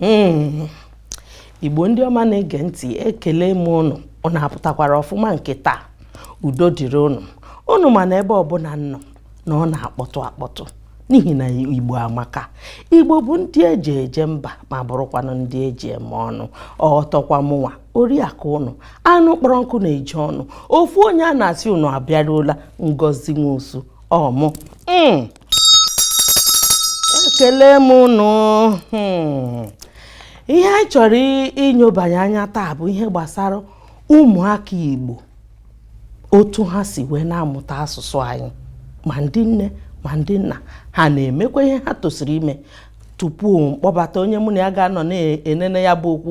Hmm. igbo ndị ọma na-ege ntị ekele m unu unu apụtakwara ọfụma nke taa udo dịrị unu unu ma na ebe ọbụla m nọ na ọ na-akpọtụ akpọtụ n'ihi na igbo amaka igbo bụ ndị eji eje mba ma bụrụkwanụ ndị eji eme ọnụ ọtọkwa mụnwa oriakụ unu anụ kpọrọ nkụ na-eju ọnụ ofu onye a na-asị unu abịaruola ngozi nwosu ọmụ hmm. ekele m unu hmm. ihe anyị chọrọ inyobanye anya taa bụ ihe gbasara ụmụaka Igbo otu ha si wee na-amụta asụsụ anyị ma ndị nne ma ndị nna ha na-emekwa ihe ha tosiri ime tupu m kpọbata onye mụ na ya ga-anọ na-enene ya bụ okwu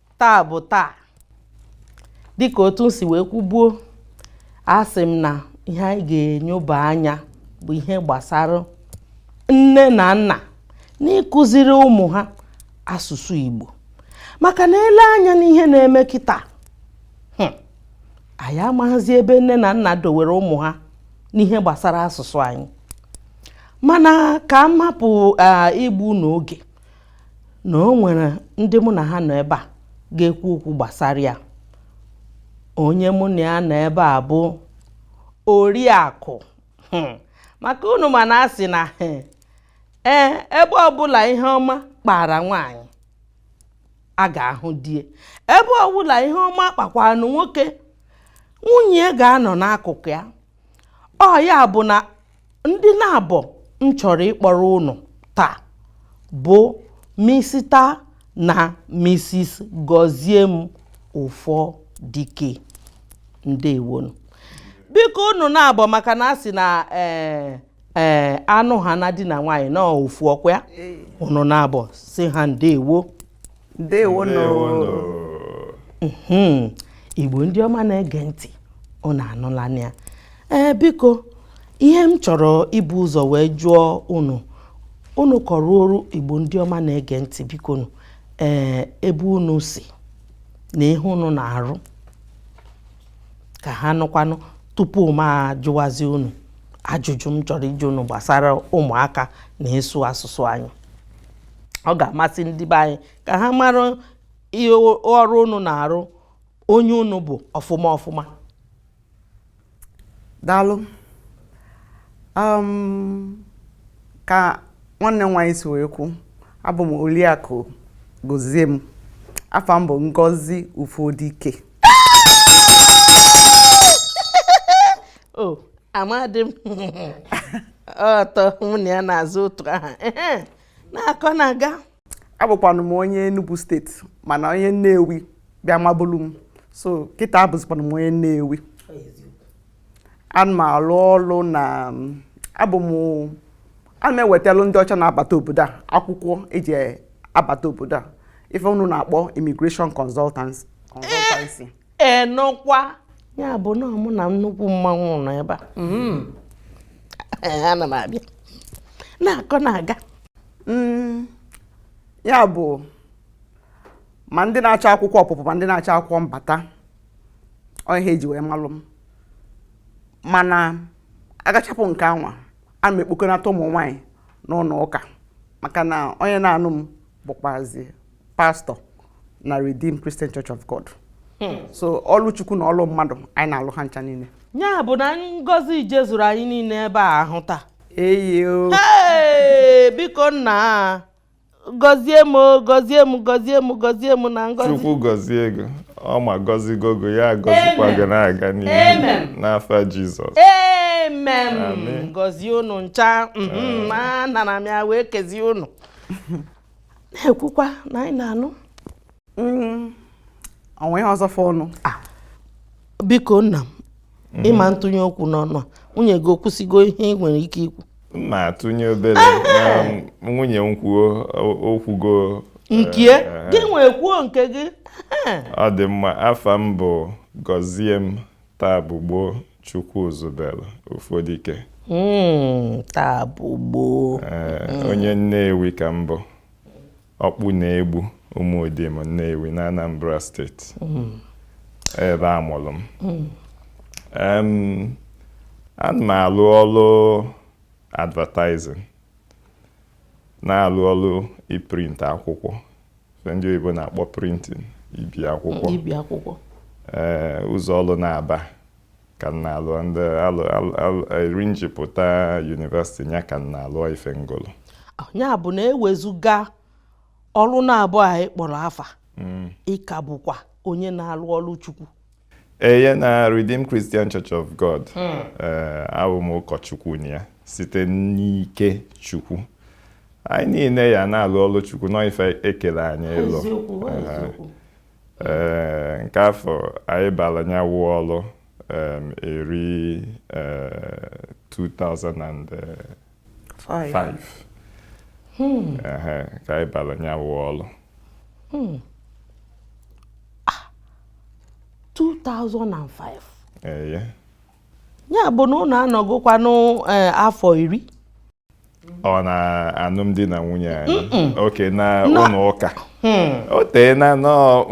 taa bụ taa dịka otu m si wee kwubuo asị m na ihe anyị ga-enyoba anya bụ ihe gbasara nne na nna n'ịkụziri ụmụ ha asụsụ Igbo maka na e lee anya n'ihe na-eme kịta hmm, anyị amaghịzi ebe nne na nna dowere ụmụ ha n'ihe gbasara asụsụ anyị mana ka m hapụ igbu unu oge na o nwere ndị mụ na ha nọ ebe a ga-ekwu okwu gbasara ya onye mụ na ya nọ ebe a bụ oriakụ hmm. maka unu ma na a sị na hmm, ee ebe ọbụla ihe ọma kpara nwaanyị a ga-ahụ di e ebe ọbụla ihe ọma kpakwanụ nwoke nwunye ga-anọ n'akụkụ ya ọ ya bụ na ndị naabọ m chọrọ ịkpọrọ unu taa bụ Mr na Mrs Goziem Ufodike ndewo nụ biko unu naabọ maka na a sị na ee eh, ee eh, anụ ha na di na nwaanyị na ofu ọkwa ya unu naabọ sị ha ndewo hmm. igbo ndị ọma na-ege ntị unu anụla ya ee biko ihe m chọrọ ibu ụzọ wee jụọ unu unu kọọrọ oru igbo ndị ọma na-ege ntị biko nụ ee ebe unu si na ihe unu na-arụ ka ha nụkwanụ tupu m ajụwazi unu ajụjụ m chọrọ ịjụ unu gbasara ụmụaka na ịsụ asụsụ anyị ọ ga-amasị ndị be anyị ka ha mara ihe ọrụ unu na-arụ onye unu bụ ọfụma ọfụma daalụ um, ka nwanne m nwaanyị si wee kwu abụ m Oriakụ Goziem afa m bụ Ngozi Ufodike o amadị m ụtọ mụ na ya na-aza otu aha na-akọ na-aga abụkwanụ m onye Enugu steeti mana onye Nnewi bịa mabulu m so kịta abụzikwanụ m onye Nnewi ana m alụ ọlụ na abụ m ana m ewetalụ ndị ọcha na-abata obodo a akwụkwọ eji abata obodo a ife unu na-akpọ immigration consultancy enụkwa ya bụ na mụ na nnukwu mmanwụ nọ ebe a mm-hmm. ana m abịa na-akọ na-aga mm, ya bụ ma ndị na-achọ akwụkwọ ọpụpụ ma ndị na-achọ akwụkwọ mbata ọ ihe eji wee malụ m mana agachapụ nke anwa ana m ekpokọnata ụmụ nwaanyị n'ụnọ ụka maka na onye na-anụ m bụkwazi pastọ na Redeemed Christian Church of God hmm. so ọlụ Chukwu na ọlụ mmadụ anyị na-alụ ha ncha niile ya bụ na ngọzi jezuru anyị niile ebe a ahụ taa eyo biko nna gọzie m na ngọzi chukwu gọzie gị ọ ma gọzigo gị ya gọzikwa gị na-aga n'ihu n'afa jizọs amen gọzie unu ncha mhm, na m ya wee kezie unu na-ekwukwa na anyị na-anụ mm, o nwe ihe ọzọ fọnụ ah, biko nna m mm. ị ma ntụnye okwu n'ọnụ a nwunye gị o kwusigo ihe ị nwere ike ikwu ma atụnye obere nwunye m kwuo o kwugo nke ya eh. gị nwa kwuo nke gị ọ dị mma afa m bụ Goziem Taabụgboo Chukwuzubelu Ufodike. Hmm, Taabụgboo. Eh, onye Nnewi ka m bụ. Ọkpụnọ-Egbu Ụmụdim Nnewi na Anambra steeti. Hmm. Ebe a mụrụ m. Hmm. Ana m alụ ọlụ advertising, na-alụ ọlụ iprint akwụkwọ. ndị oyibo na-akpọ printing ibi akwụkwọ ibi akwụkwọ ee ụzọ ọlụ naabọ ka m na-alụ ndị eri m ji pụta yunivesiti ya ka m na-alụ ife m gụlụ ya bụ na ewezuga ọlụ naabọ a ị kpọrọ afa ị ka bụkwa onye na-alụ ọlụ chukwu Eye na Redeemed Christian Church of God hmm. eh, abụ m ụkọchukwu na ya site n'ike Chukwu anyị niile ya na-alụ ọlụ Chukwu n'ife ekele anyị ịlụ eh, nke afọ anyị bara nya wụ ọlụ eri 2000 eh, 5 hmm. ka anyị bara nya wụ ọlụ 2005 eye ya bụ na unu anọgokwanụ afọ eh, iri ọ na alụmdi na nwunye anyị okay na ụlọ ụka Hmm. o tee na nọọ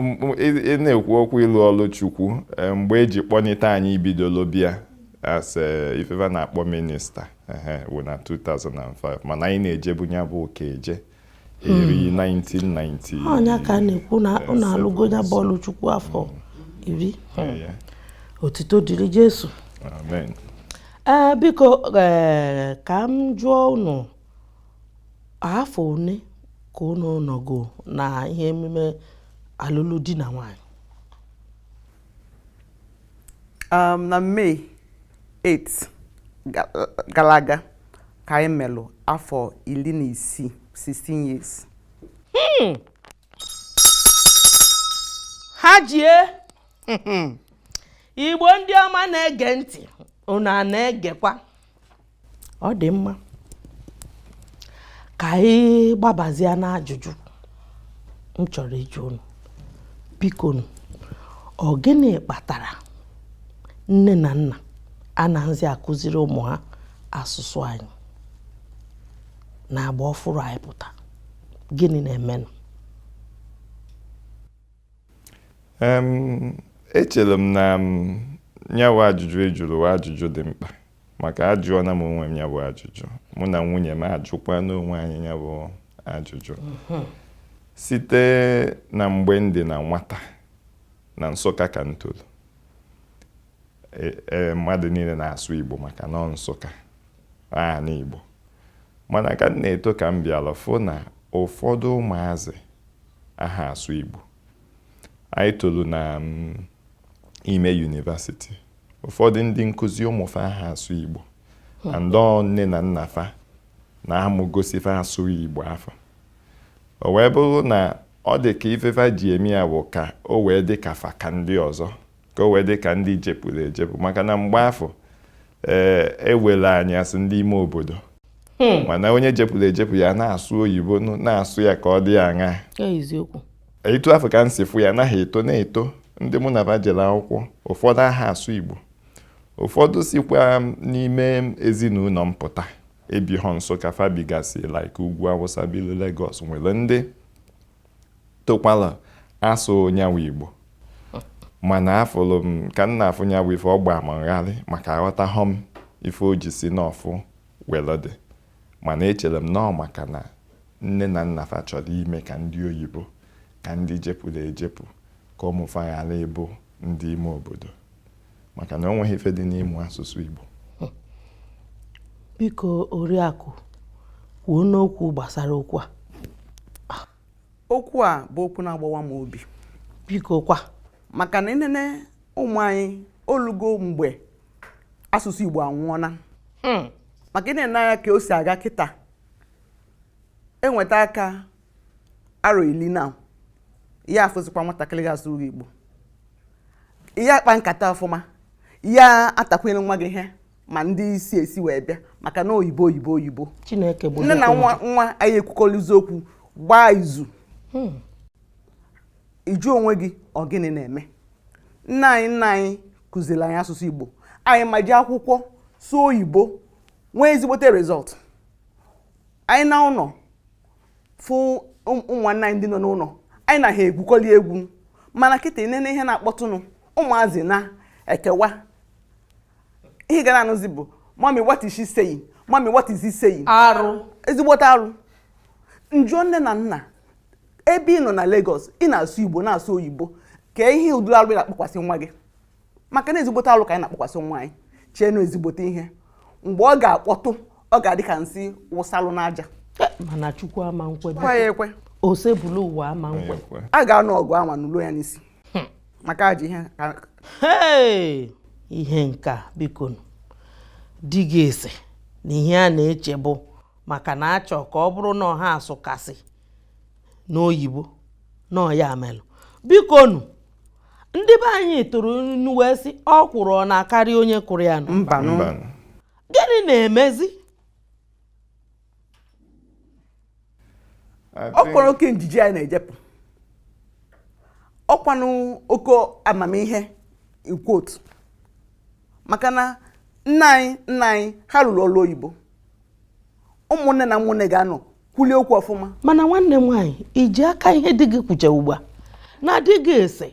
ị na-ekwu okwu ịlụ ọlụ chukwu eh, mgbe eji kpọnite anyị bidolo bịa as eh, ife fa na-akpọ minista wụ na 2005 mana anyị na-ejebu ya bụ ụka eje eri 1990 hmm. ọ nya ka a na-ekwu na unu alụgo ya bụ ọlụ chukwu afọ hmm. iri hmm. otito dịrị jesu amen ee biko e, ka m jụọ unu afọ one ka unu nọgo na ihe emume alụlụ di na nwanyị Um, na May 8 gara aga ka anyị melụ afọ iri na isii 16 years hmm. ha jie igbo ndị ọma na-ege ntị unu a na-egekwa ọ dị mma ka anyị gbabazie n'ajụjụ m chọrọ ịjụ unu biko nụ ọ gịnị kpatara nne na nna anaghịzi akụziri ụmụ ha asụsụ anyị na agba ọfụrụ anyị pụta gịnị na-emenụ Em, echere m na nya wụ ajụjụ ị jụrụ wụ ajụjụ dị mkpa Maka ajụọna m onwe m ya bụ ajụjụ, mụ na nwunye m ajụkwana onwe anyị ya bụ ajụjụ. Mhm. Site na mgbe m dị na nwata na Nsụka ka m toro, e, e, mmadụ niile na-asụ Igbo maka na Nsụka ana Igbo mana ka m na-eto ka m bịara fụ na ụfọdụ ụmụazị aha asụ Igbo anyị toro na mm, ime yunivasiti ụfọdụ ndị nkụzi ụmụ fa aha asụ Igbo hmm. and ọọ nne na nna fa na-amụgosi fa asụghị Igbo afọ o wee bụrụ na ọ dị ka ife fa ji eme ya bụ ka o wee dị ka fa ka ndị ọzọ ka o wee dị ka ndị jepụrụ ejepụ maka na mgbe afọ ee eh, e were anyị as ndị ime obodo hmm. mana onye jepụrụ ejepụ ya na-asụ oyibo na-asụ ya ka ọ dị aṅa etu afụ ka m si fụ ya anaghị eto na-eto ndị mụ na fa jere akwụkwọ ụfọdụ aha asụ Igbo ụfọdụ sikwa n'ime ezinụlọ m pụta ebighọ Nsụka fa bigasị like ugwu Awụsa bilu Lagos nwere ndị tokwala asụ nya wụ Igbo mana afụlụ m ka m na-afụ nya wụ ife ọ gbaa m gharịị maka aghọtahọ m ife o ji si nọfụ Welu dị, mana echere m na ọ maka na nne na nna fa chọrọ ime ka ndị oyibo, ka ndị jepụrụ ejepụ, ka ụmụ fa ghara ịbụ ndị ime obodo. Maka na o nweghị ife dị n'ịmụ asụsụ Igbo. Biko Oriakụ, kwuonụ okwu gbasara okwu a. Okwu a bụ okwu na-agbawa m obi. Biko kwa. Maka na ị nene ụmụ anyị olugo mgbe asụsụ Igbo anwụọna hmm. maka ị nene anya ka o si aga kịta enweta aka arọ ili na ya afụzikwa nwatakịrị ga-asụ Igbo ya akpa nkata ọfụma ya atakwere nwa gị ihe ma ndị isi esi wee bịa maka na oyibo oyibo oyibo nne na nwa anaghị ekwukọrịzi okwu gbaa izu hmm. ị jụọ onwe gị ọ gịnị na-eme nna anyị nna anyị kụziri anyị asụsụ Igbo anyị ma ji akwụkwọ sụọ oyibo nwee ezigbote result anyị naa ụlọ fụ ụmụnna anyị ndị nọ n'ụlọ anyị na ha egwukọli egwu mana kịta nene ihe na-akpọtụnụ ụmụazị na-ekewa ihe ị ga na-anụzi bụ mummy what is she saying mummy what is he saying arụ ezigbote arụ m jụọ nne na nna ebe ị nọ na Lagos ị na-asụ Igbo na-asụ oyibo kee ihe ụdịrị alụ ị na-akpọkwasị nwa gị maka na ezigbote alụ ka anyị na-akpọkwasị nwa anyị chee na ọ ezigbote ihe mgbe ọ ga-akpọtụ ọ ga-adị ka nsị wụsalụ n'aja mana Chukwu ama nkwe ekwe Osebuluwa ama nkwe a ga-anụ ọgụ anwa nụlu ya n'isi hmm. maka ajọ ihe ihe nke a bikonụ ndị ga-asị na ihe a na-eche bụ maka na a chọ ka ọ bụrụ na ọ ha asụkasị n'oyibo na ọ ya melụ bikonụ ndị be anyị tụrụ inu wee sị ọkwụrụ ọ na-akarị onye kụrụ ya nụ mbanụ Mbanụ. gịnị na-emezi I think- ọkwanụ oke njiji anyị na-ejepụ ọkwanụ oke amamihe in quote maka na nna anyị nna anyị ha rụrụ ọrụ oyibo ụmụnne na ụmụnne ga-anọ kwulie okwu ọfụma mana nwanne m nwaanyị iji aka ihe di gị kwucha ugbu a na di gị sị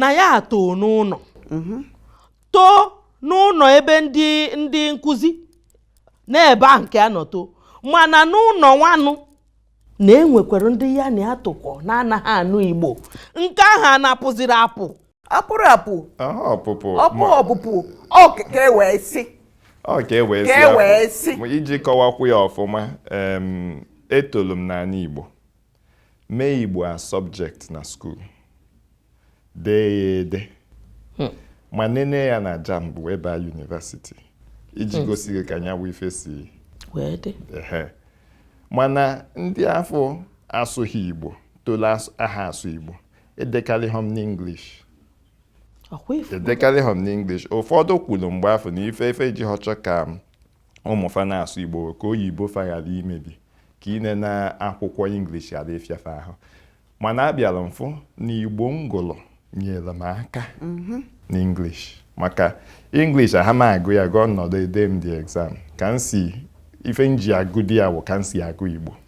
na ya atoo n'ụlọ mhm. too n'ụlọ ebe ndị ndị nkụzi n'ebe ahụ nke a nọ too mana n'ụlọ nwanụ na enwekwara ndị ya na ha tokọ na-anaghị anụ igbo nke ahụ a na-apụziri apụ apụrụ apụ Aha ọpụpụ ọpụ ma- ọpụpụ ọ ka e wee sị ọ ka e wee sị. Ka e wee sị. Ma iji kọwakwu ya ọfụma em, etolu m n'ala Igbo mee Igbo as subject na skuul dee ya ede ma nene ya na JAMB wee baa yunivasiti iji gosi gị ka nyanwa ife si wee dị ehe mana ndị afụ asụghị Igbo tolu asụ- aha asụ Igbo Edekarịghị m n'English. Ọkwa ị fụ. Edekarịghị m n'English. Ụfọdụ kwuru mgbe afụ na ife fa ji aha achọ ka ụmụ fa na-asụ Igbo ka oyibo fa ghara imebi ka inene akwụkwọ English ghara ịfịa fa ahụ. Mana abịara m fụ na Igbo m gụrụ nyere m aka mhm. n'English. Maka English aha m agụ ya agụ m nọdụ ede m the exam ka m si ife m ji agụdi ya bụ ka m si agụ Igbo.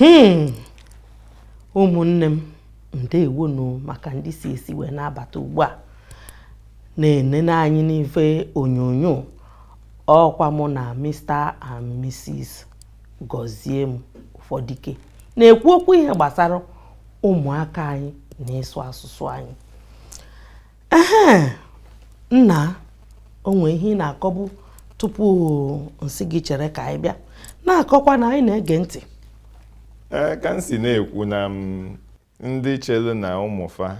hmm ụmụnne m ndewo nụ maka ndị si esi wee na-abata ugbu a na-enene anyị n'ife onyonyo ọkwa mụ na Mr and Mrs Gọziem Ụfọdike na-ekwu okwu ihe gbasara ụmụaka anyị na ịsụ asụsụ anyị ehe nna o nwe ihe ị na-akọbu tupu m sị gị chere ka anyị bịa na-akọkwa na anyị na-ege ntị ee ka m si na-ekwu na m ndị chere na ụmụfa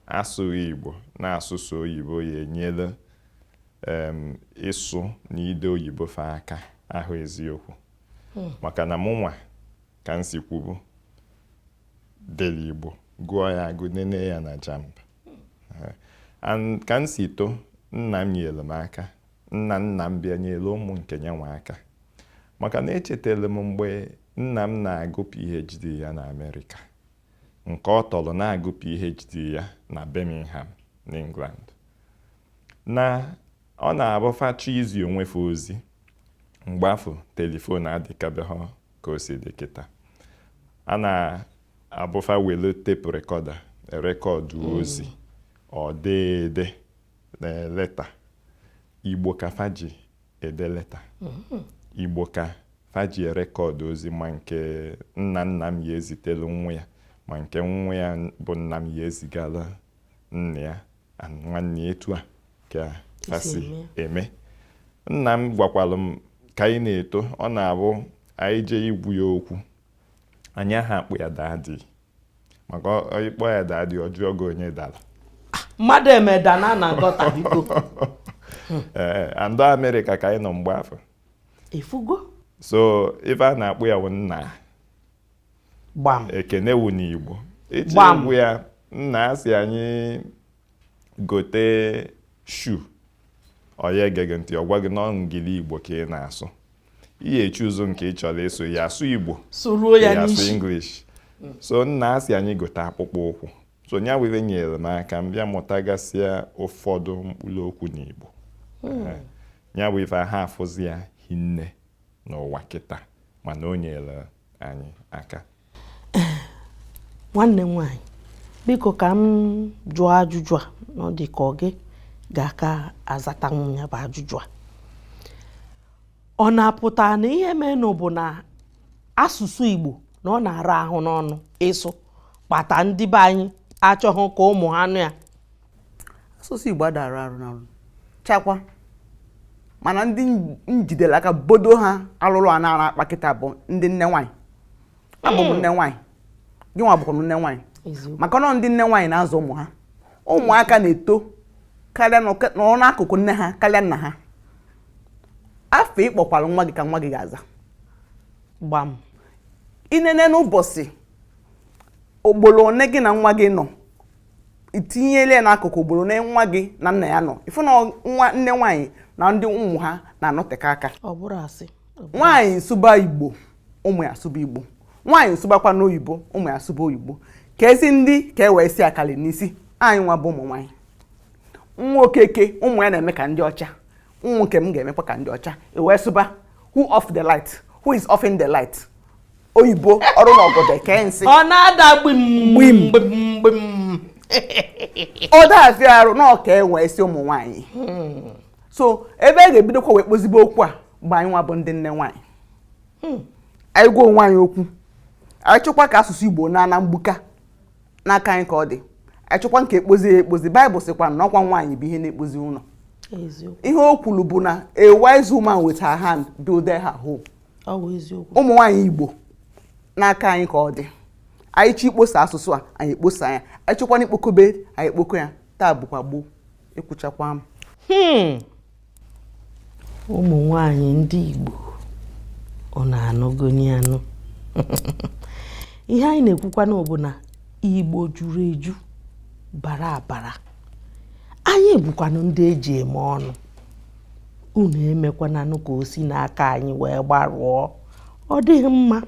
asụghị igbo na-asụ sọ oyibo ya-enyelu em, ịsụ na ide oyibo fa aka ahọ eziokwu maka na mụnwa ka m si kwubu dere Igbo gụọ ya agụ nene ya na JAMB ka m si too nna m nyere m aka nna nna m bịa nyere ụmụ nke yanwa aka maka na echetara m mgbe nna m na-agụ PhD ya na Amerịka nke ọ tọrọ na-agụ PhD ya na Birmingham n'England na ọ na-abụ fa chọọ izi onwe fa ozi mgbe afụ telifon adịkabeghị ka o si dị kịta a na-abụ fa welu tape recorder rekọdụ hmm. ozi or dee ede na leta igbo ka fa ji ede leta hmm. igbo ka fa ji rekọdụ ozi ma nke nna nna m ya ezitelu nwa ya ma nke nwa ya bụ nna m ya ezigala nna ya nwanne etu a ka fa si eme nna m gwakwalụ m ka anyị na-eto ọ na-abụ anyị jee ịgwa ya okwu anyị aha akpọ ya daddy maka ị kpọ ya daddy ọ jụọ gị onye dara mmadụ emeda na na nkọta biko ee and ọ amerịka ka anyị nọ mgbe afụ ị fụgo so ife a na-akpọ ya bụ nna gbam ekene wu n'igbo ị jee Gbam. ịgwa ya nna a sị anyị gote shoe ọ yaghị ege ntị ọ gwa gị na engili igbo ka ị na-asụ ị ya choose nke ị chọrọ ịsụ ya asụ igbo sụruo ya ya asụ n'isi english so nna a sị anyị gote akpụkpọ ụkwụ so nya were nyere m aka m bịa mụtagasịa ụfọdụ mkpụrụ okwu n'igbo Eh, ya bụ ife aha afụzi ya hinne n'ụwa kịta mana o nyere anyị aka nwanne m nwaanyị biko ka m jụọ ajụjụ a na ọ dị ka ọ gị ga-aka azata m ya bụ ajụjụ a ọ na-apụta na ihe menụ bụ na asụsụ Igbo na ọ na-ara ahụ n'ọnụ ịsụ kpata ndị be anyị achọghị ka ụmụ ha nụ ya asụsụ Igbo ada ara arụ n'ọnụ chakwa mana ndị m jidere aka bodo ha alụrụ ana a na-akpa kịta bụ ndị nne nwaanyị abụ m nne nwaanyị gị nwa bụkwa nne nwaanyị maka na ọ ndị nne nwaanyị na-azụ ụmụ ha ụmụaka na-eto karịa nọrọ n'akụkụ nne ha karịa nna ha afa ị kpọkwara nwa gị ka nwa gị ga-aza gbam i nene n'ụbọchị ugboro one gị na nwa gị nọ i tinyele ya n'akụkụ ugboro na nwa gị na nna ya nọ ị fụ na nwa nne nwaanyị na ndị ụmụ ha na-anọteka aka nwaanyị sụba igbo ụmụ ya asụba igbo nwaanyị sụbakwanụ oyibo ụmụ ya asụba oyibo ka ezi ndị ka e wee si akali n'isi anyị nwa bụ ụmụ nwaanyị nwa okeke ụmụ ya na-eme ka ndị ọcha ụmụ nke m ga-emekwa ka ndị ọcha e wee sụba who off the light who is offing the light oyibo ọrụ na ọgọdọ eke nsị ọ na-ada gbim gbim gbim ọ da afịa arụ na ọ ka e wee si ụmụ nwaanyị hmm. so ebe a ga-ebidokwa wee kpozibe okwu a bụ anyị nwa bụ ndị nne nwaanyị hmm. anyị gwa onwe anyị okwu anyị chọkwa ka asụsụ igbo naa na mgbuka n'aka anyị ka ọ dị anyị chọkwa nke ekpozi ya ekpozi baịbụl sịkwa na ọ kwa nwaanyị bụ ihe na-ekpozi ụlọ ihe o kwuru bụ na a wise woman with her hand build her home ụmụ nwaanyị Igbo n'aka anyị ka ọ dị anyị chọọ ikposa asụsụ a anyị ekposa ya anyị chọkwanụ ikpokobe anyị ekpoko ya taa bụkwa gboo ekwuchakwa m hmm. ụmụ nwanyị ndị Igbo unu anụgoni anụ ihe anyị na-ekwukwanụ bụ na Igbo juru eju bara abara anyị bụkwanụ ndị eji eme ọnụ unu emekwananụ ka o si n'aka anyị wee gbarụọ ọ dịghị mma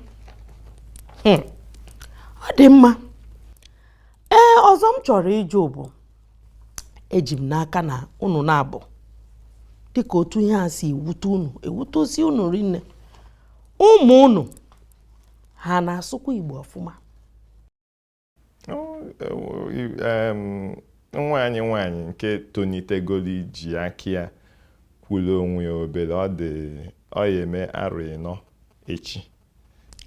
hmm. ọ dị mma ee ọzọ m chọrọ ịjụ bụ eji m n'aka na unu naabọ dịka otu ihe a si ewute unu ewute osi unu rinne ụmụ unu ha na-asụkwa Igbo ọfụma nwa anyị nwaanyị nke tonitegolu iji aka ya kwulu onwe ya obere ọ dị ọ ya-eme arọ ịnọ echi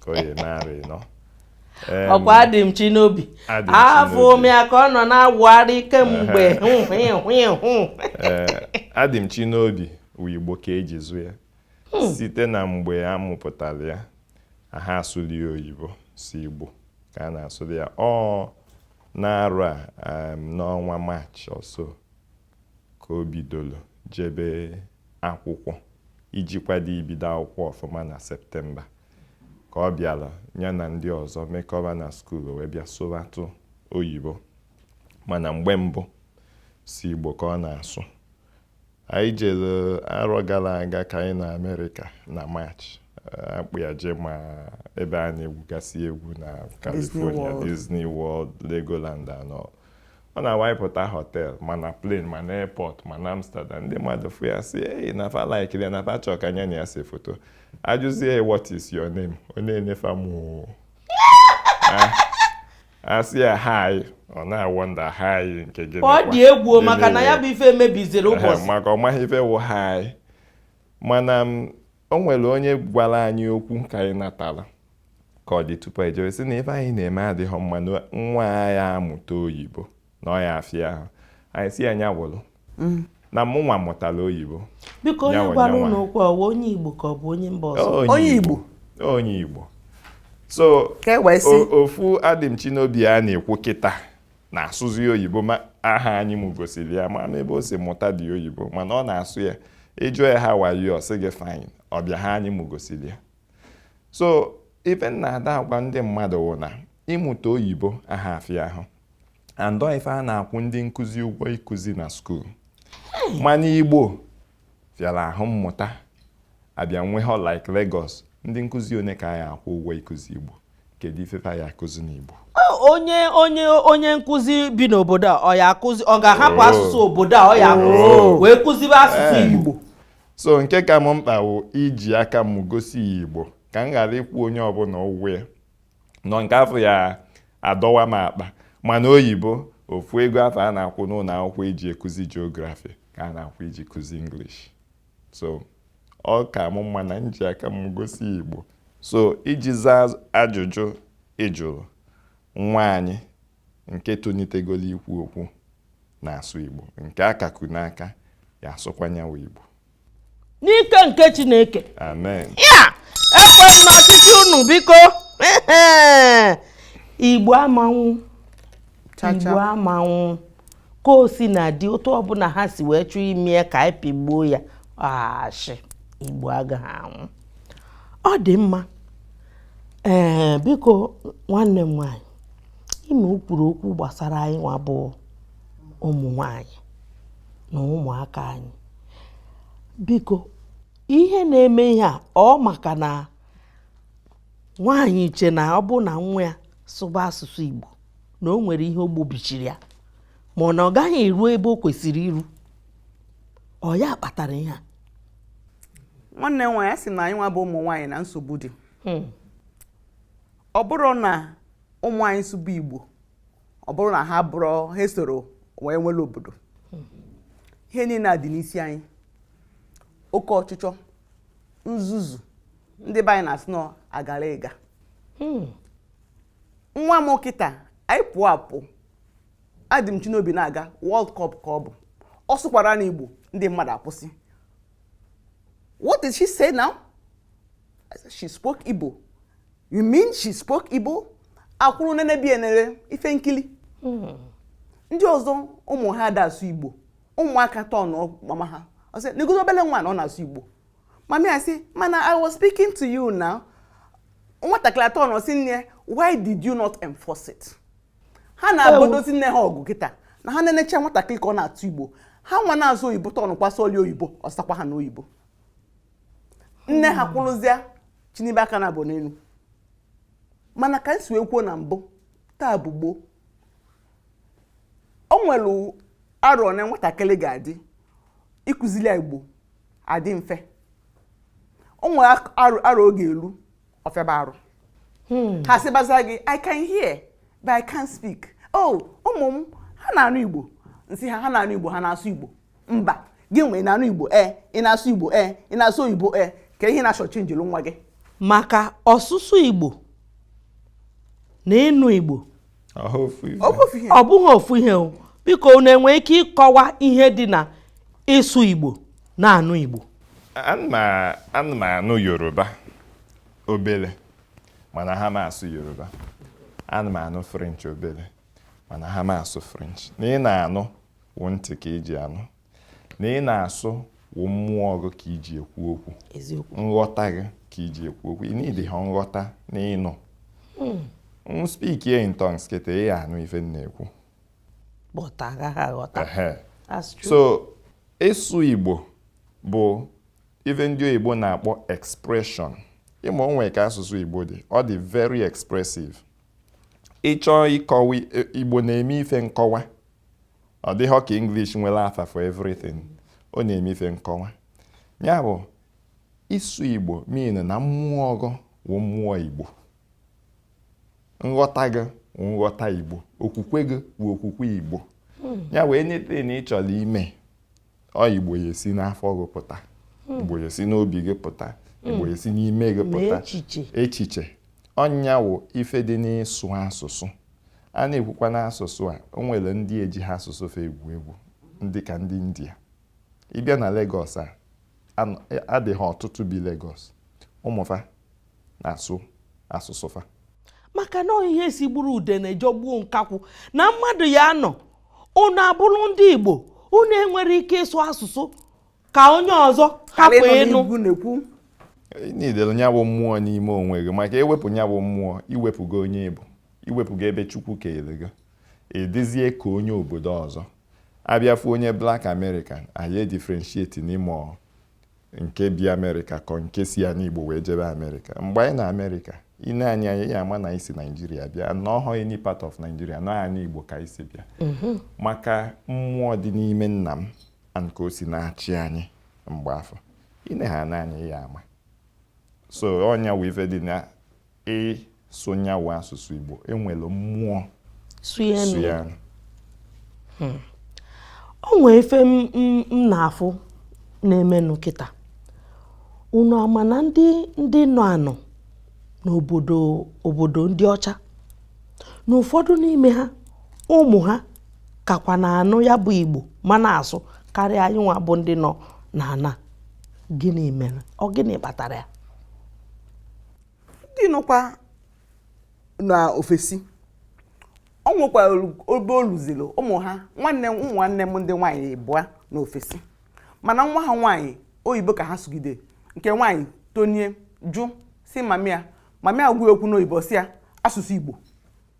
ka ọ ya-eme arọ ịnọ ọ kwa Adịmchinobi afụ m ya ka ọ nọ na-awụgharị kemgbe Adịmchinobi wụ igbo ka eji zụ ya hmm. site na mgbe a mụpụtara ya aha asụlụ ya oyibo sọ Igbo ka a na-asụlụ ya ọ n'arọ a um, n'ọnwa maachị ọso ka o bidoro jebe akwụkwọ iji kwado ibido akwụkwọ ọfụma na septemba ka ọ bịara ya na ndị ọzọ mekọba na skuul wee bịa sụratụ oyibo mana mgbe mbụ sọ Igbo ka ọ na-asụ Anyị jere arọ gara aga ka anyị nọ Amerịka na March. A kpọ ya je ma ebe a na-egwugasị egwu na California, Disney World, Legoland and all. Ọ na-awụ anyị pụta họtel ma na plane ma na airport ma na Amsterdam. Ndị mmadụ fụ ya sị, ee, na fa laikiri ya na fa chọọ ka nya na ya se foto. Ajụzie ya what is your name? Ọ na-ene fa moo. a sị ya haị ọ na-awọnda haị nke gịnị ọ dị egwu maka na ya bụ ife mebiziri ụbọchị maka ọ maghị ife wụ haị mana o nwere onye gwara anyị okwu ka anyị natara ka ọ dị tupu ejewe sị na ife anyị na-eme adịghị mma na nwa a ya-amụta oyibo na ọ ya-afịa ahụ anyị sị ya nya wụrụ mm. na mụ nwa mụtara oyibo biko onye gwara unu okwu ọ wụ onye igbo ka ọ bụ onye mba ọzọ onye igbo onye igbo so e ofu Adịmchinobi a na-ekwu kịta na-asụzi oyibo ma aha anyị m gosiri ya ma n'ebe o si mụtadị oyibo mana ọ na-asụ ya ị jụọ ya how are you ọ sị gị fine ọbịa ha anyị m gosiri ya so ife m na-ada agwa ndị mmadụ wụ na ịmụta oyibo aha afịa ahụ and ọ ife a na-akwụ ndị nkụzi ụgwọ ịkụzi na skuul mana igbo fịara ahụ mmụta abịa nwee ha like Lagos ndị nkụzi one ka a ya akwụ ụgwọ ịkụzi igbo kedu ife ya akụzi n'igbo onye onye onye nkụzi bi n'obodo a ọ ya akụzi ọ ga-ahapụ oh. asụsụ obodo a ọ ya akụzi oh. wee kụzibe asụsụ eh. igbo so nke ka m mkpa wụ iji aka m gosi igbo ka m ghara ịkwụ onye ọbụla ụgwọ ya n'ọ nke afụ ya adọwa m akpa mana oyibo ofu ego afụ a na-akwụ n'ụlọ akwụkwọ iji ekuzi geography ka a na-akwụ iji kuzi English so ọ ka mụ mma na m ji aka m gosi Igbo so iji zaa ajụjụ ị jụrụ nwa anyị nke tonitegolo ikwu okwu na-asụ Igbo nke a ka ku n'aka ya asụkwa nyawa Igbo n'ike nke Chineke amen ya ekwe m n'ọchịchị unu biko Igbo ama anwụ Igbo ama anwụ ka o si na dị otu ọbụla ha si wee chọọ ime ya ka anyị pịgbuo ya ashị Igbo agaghị anwụ ọ dị mma ee biko nwanne m nwanyị ị ma o kwuru okwu gbasara anyị nwa bụ ụmụ nwanyị na ụmụaka anyị biko ihe na-eme ihe a ọ maka na nwaanyị che na ọ bụ na nwa ya sụba asụsụ Igbo na o nwere ihe o gbobichiri ya ma ọ na ọ gaghị eru ebe o kwesịrị iru ọ ya kpatara ihe a nwanne nwaanyị a sị na anyị nwa bụ ụmụ nwaanyị na nsogbu dị hmm. ọ bụrụ na ụmụ anyị sụba igbo ọ bụrụ na ha bụrụ ha esoro wee nwere obodo ihe niile a dị n'isi anyị oke ọchịchọ nzuzu ndị be anyị na-asị na agara ịga hmm. nwa m kịta anyị pụọ apụ adị m Chineobi na-aga World Cup ka ọ bụ ọ sụkwara n'Igbo ndị mmadụ akwụsị what did she say now she spoke Igbo You mean she spoke Igbo? A kwụrụ nenebe e nere ife nkili. Hmm. Ndị ọzọ ụmụ ha ada asụ Igbo. Ụmụaka turnụọ mama ha. Ọ sị, negozi obele nwa na ọ na-asụ Igbo. Mami asị, mana I was speaking to you now. Nwatakịrị aturnụọ sị nne, why did you not enforce it? Ha na-ebudozi nne ha ọgụ kịta na ha na-enecha nwatakịrị ka ọ na-asụ Igbo. Ha nwa na-asụ oyibo turnụọkwa sụọli oyibo, ọ sakwa ha n'oyibo. nne ha kwụrụzie chinibe aka naabọ n'elu mana ka m si wee kwuo na mbụ taa bụ gboo o nwere arọ na nwatakịrị ga-adị ịkụzili ya igbo adị mfe o nwere ak- arọ arọ ọ ga-elu ọ fịaba arụ ha sịbazịa gị i can hear but i can't speak oh ụmụ m ha na-anụ igbo m sị ha ha na-anụ igbo ha na-asụ igbo mba gịnwa ị na-anụ igbo e ị na-asụ igbo e ị na-asụ oyibo e ka ihe na-achọ chenjiri nwa gị maka ọsụsụ igbo na ịnụ igbo ọ bụghị ofu ihe o biko unu enwe ike ịkọwa ihe dị na ịsụ igbo na-anụ igbo ana m anụ yoruba obele mana aha m asụ yoruba ana m anụ french obele mana aha m asụ french na ị na-anụ wụ ntị ka i ji anụ na ị na-asụ wụ mmụọ gị ka i ji ekwu okwu nghọta gị ka i ji ekwu okwu i niidi ha nghọta na ịnụ hmm. m spiki in tongues kịta ị anụ ife m na-ekwu so ịsụ Igbo bụ ife ndị oyibo na-akpọ expression ị ma o nwe ka asụsụ Igbo dị ọ dị very expressive ị chọọ ịkọwa Igbo na-eme ife nkọwa ọ dịghọ ka English nwere afa for everything ọ na-eme ife nkọwa ya bụ ịsụ Igbo mean na mmụọ gị wụ mmụọ Igbo nghọta gị wụ nghọta Igbo okwukwe gị wụ okwukwe Igbo hmm. nya wụ anything ị chọrọ ime ọ igbo ya-esi n'afọ gị pụta hmm. igbo ya-esi n'obi gị pụta hmm. igbo ya-esi n'ime gị pụta echiche ọ nya wụ ife dị n'ịsụ asụsụ a na-ekwukwa n'asụsụ a o nwere ndị eji ha asụsụ fa egwu egwu ndị ka ndị india ị bịa na Lagos a adị ha ọtụtụ bi Lagos ụmụ fa na-asụ asụsụ fa maka na ihe sigburu udene jọgbuo nkakwụ na mmadụ ya-anọ unu abụrụ ndị Igbo unu enwerọ ike ịsụ asụsụ ka onye ọzọ hapụ ịnụ i niidili nya bụ mmụọ n'ime onwe gị maka i wepụ nya bụ mmụọ i wepụgo onye ị bụ i wepụgo ebe Chukwu keele gị ị dịzie ka onye obodo ọzọ a bịa fụ onye Black American a ya differentiate n'ime ọha nke bi amerịka ka ọ nke si anị igbo wee jebe amerịka mgbe anyị nọ amerịka i nee anyị anya ị ya-ama na anyị si naijiria bịa na ọọhọ any part of naijiria na ọ anị igbo ka anyị si bịa mhm. maka mmụọ dị n'ime nna m and ka o si na-achị anyị mgbe afụ i nee ha n'anya ị ya-ama so ọ nya wụ ife dị na Ị sụ nya wụ asụsụ Igbo, e were mmụọ sụọ ya. Hmm. O nwee ife m na-afụ na-emenụ kịta. Unu ama na ndị nọ anọ n'obodo ndị ọcha na ụfọdụ n'ime ha ụmụ ha kakwa na-anụ ya bụ Igbo ma na-asụ karịa anyị nwa bụ ndị nọ n'ana gịnị mere ọ gịnị kpatara ya ndị nọkwa na ofesi o nwekwara obe o luziri ụmụ ha nwanne ụmụ nwanne m ndị nwaanyị ịbụa nọ ofesi mana nwa ha nwaanyị oyibo ka ha sụgide nke nwaanyị tonie jụ sị mama ya mama ya gwa ya okwu n'oyibo sị ya asụsụ igbo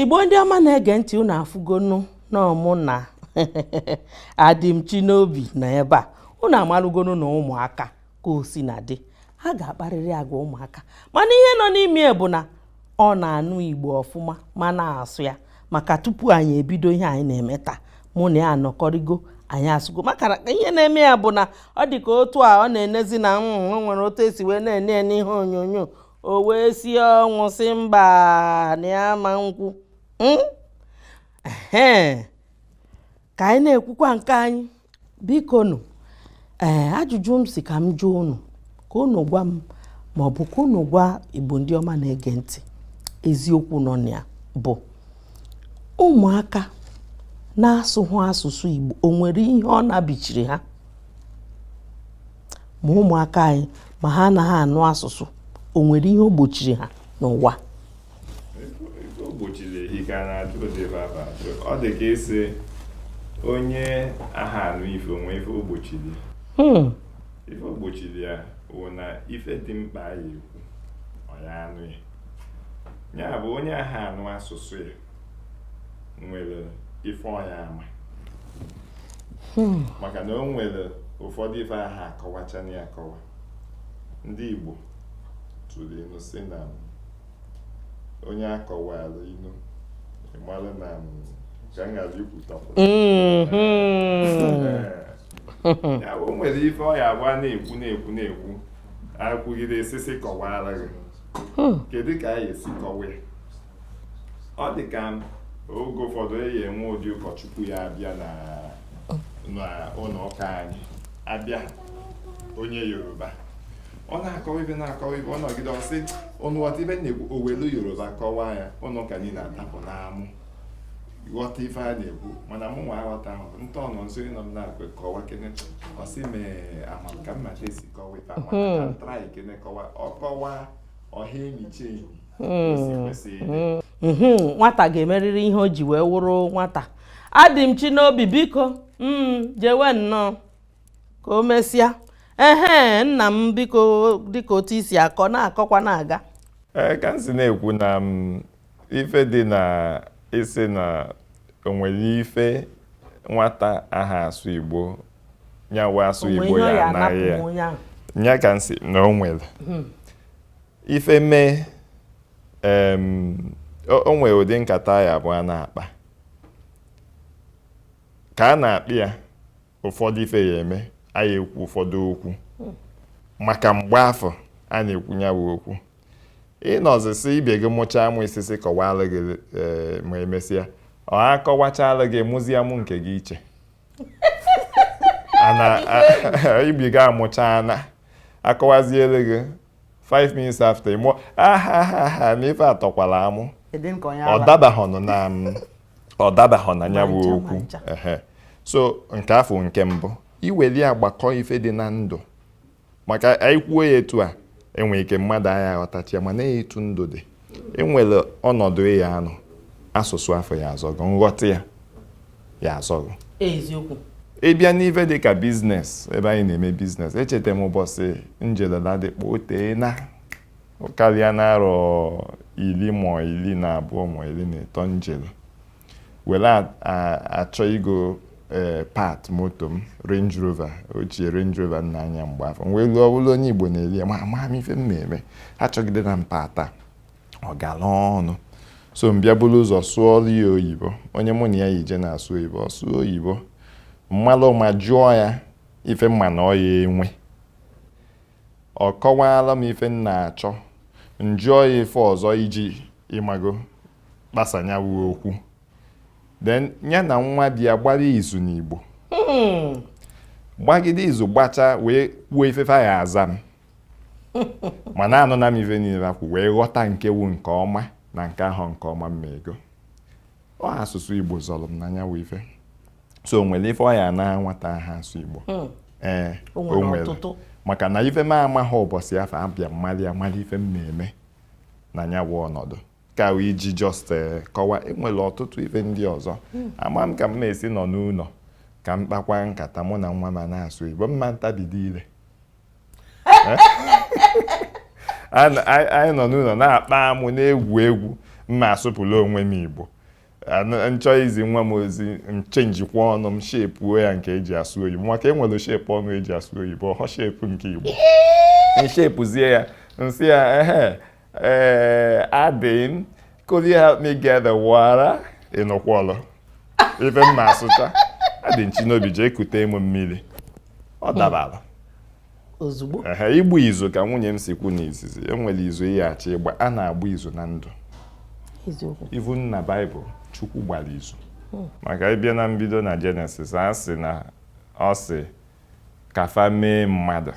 igbo ndị ọma na-ege ntị unu afụgonu na ọ mụ na Adịmchinobi nọ ebe a unu amarụgonu na ụmụaka ka o sina dị ha ga-akparịrị agwa ụmụaka mana ihe nọ n'ime bụ na ọ na-anụ igbo ọfụma ma na-asụ ya maka tupu anyị ebido ihe anyị na-eme taa mụ na ya anọkọrịgo anyị asụgo maka ihe na-eme ya bụ na ọ dị ka otu a ọ na-enezi na o nwere otu e si wee na-ene ya n'ihe onyonyo o wee si ọnwụ sị mba na ya ama ekwu hmm? ka anyị na-ekwukwa nke anyị bikonụ ee eh, ajụjụ m sị ka m jụọ unu ka unu gwa m ma ọ bụ ka unu gwa igbo ndị ọma na-ege ntị eziokwu nọ na ya bụ ụmụaka na-asụhụ asụsụ igbo o nwere ihe ọ na-ebichiri ha Ma ụmụaka anyị ma ha anaghị anụ asụsụ, o nwere ihe o gbochiri ha n'ụwa? O gbochiri ike a na-achụ ụdị ebe aba achụ. Ọ dị ka ịsị onye aha anụ ife o nwe ife o gbochiri. Hmm. Ife o gbochiri ya wụ na ife dị mkpa a ya ekwu, ọ ya anụ ya. Ya bụ onye aha anụ asụsụ ya nwere ife ọ ya ama hmm. maka na o nwere ụfọdụ ife aha akọwacha na akọwa ndị Igbo tụrụ inu sị na onye a kọwara inu ị mara na ka m ghara ikwutakwu ya o nwere ife ọ ya abụ a na-ekwu na-ekwu na-ekwu ekwugide esisi kọwara gị hmm. kedu ka a ya esi kọwa ya ọ dị ka oge ụfọdụ e ya-enwe ụdị ụkọchukwu ya abịa na n'ụnọ ụka anyị abịa onye yoruba ọ na-akọwa ife na-akọwa ife ọ nọgide ọ sị unu ghọta ife m na-ekwu o welu yoruba kọwaa ya ụnọ ụka niile atapụ n'amụ ghọta ife a na-ekwu mana mụ nwa aghọtahọ nta ọnọ nso ịnọ m na-akwe kọwa kene ọ sị m ee ama ka m mata esi kọwa ife ahụ mana ka m try kene kọwa ọ kọwa ọha enyi chi enyi hmm. hmm. hmm. nwata ga-emerịrị ihe o ji wee wụrụ nwata Adịmchinobi biko jewe nnọọ ka o mesịa ehe nna m biko dịka otu i si akọ na-akọkwa na-aga ee ka m si na-ekwu na ife dị na isi na o nwere ife nwata aha asụ igbo nyawa asụ igbo ya anaghị ya nya ka m si na o nwere hmm. ife mee o nwere ụdị nkata ya-abụ a na-akpa ka a na-akpa ya ụfọdụ ife ya-eme a ya-ekwu ụfọdụ okwu maka mgbe afụ a na-ekwu ya bụ okwu ị nọzi sị ibe gị mụchaa amụ ị sị sị kọwalụ gị eh, ma emesịa a kọwachalụ gị ị mụzie amụ nke gị iche ibe gị amụcha na akọwaziele gị 5 minutes after ị mụọ ahahaha na ife a tọkwala amụ Kedu nke onye ọ ala? dabahọnụ na m ọ dabahọ na ya bụ ncha, ma okwu ncha. Ehe. so nke afụ nke mbụ i weli ya gbakọ ife dị na ndụ maka i kwuo ya etu a e nwere ike mmadụ aya aghọtacha ya mana etu ndụ dị e nwere ọnọdụ ị ya-anọ asụsụ afụ ya-azọ gị nghọta ya ya-azọ gị eziokwu ị bịa n'ife dị ka business ebe anyị na-eme business echeta m ụbọsị m jele Ladipo o teena ọ karịana arọ iri ma iri na abụọ ma iri na ịtọ m jele were a- a- achọ ịgo ee part moto m Range Rover ochie Range Rover m na-anya mgbe afụ m wee luo ọ bụrụ onye Igbo na-ele ya ma ama m ife m na-eme achọgidena m part a ọ gara ọnụ so m bịa buru ụzọ sụọrọ ya oyibo onye mụ na ya yi je na-asụ oyibo ọ sụọ oyibo m malụ ama jụọ ya ife m ma na ọ ya-enwe ọ kọwaala m ife m na-achọ m jụọ ya ife ọzọ iji ị mago kpasa nya wụ okwu then ya na nwa boy ya gbaa izu n'Igbo hmm. gbagide izu gbacha wee kwuo ife fa ya-aza m mana anụna m ife niile fa kwu wee ghọta nke wụ nke ọma na nke awụhọ nke ọma mma ego ọ asụsụ Igbo zọrọ m na nya wụ ife so o nwere ife ọ ya-ana nwata aha asụ Igbo hmm. ee o nwere maka na ife m amaghị ụbọchị afụ abịa mmalị amali ife m na-eme na ya bụ ọnọdụ ka iji just eh, kọwa enwere ọtụtụ ife ndị ọzọ hmm. ama m ka m na-esi nọ n'ụlọ ka m kpakwa nkata mụ na nwa m na-asụ Igbo mma ntabido ire eh? anyị nọ n'ụlọ na-akpa amụ na-egwu egwu mma asụpụla onwe m Igbo m chọọ izi nwa m ozi m chenjikwaa ọnụ m shepuo ya nke eji asụ oyibo maka enwere shepu ọnụ eji asụ oyibo ọhọ shepu nke Igbo m shepuzie ya m sị ya ehe Eh, Adim, could you help me get the water? Ị nụkwọlụ ive m ma-asụta. Adimchinobi jee kute m mmili. Ọ hmm. dabara. Ozugbo. Ehe, ịgba izu ka nwunye m si kwu n'izizi. E nwere izu ị ya-achọ ịgba. A na-agba izu na ndụ. Eziokwu. Even na Baịbụl, Chukwu gbara izu. Hmm. Maka ị bịa na mbido na Jenesis, a sị na ọ sị ka fa mee mmadụ.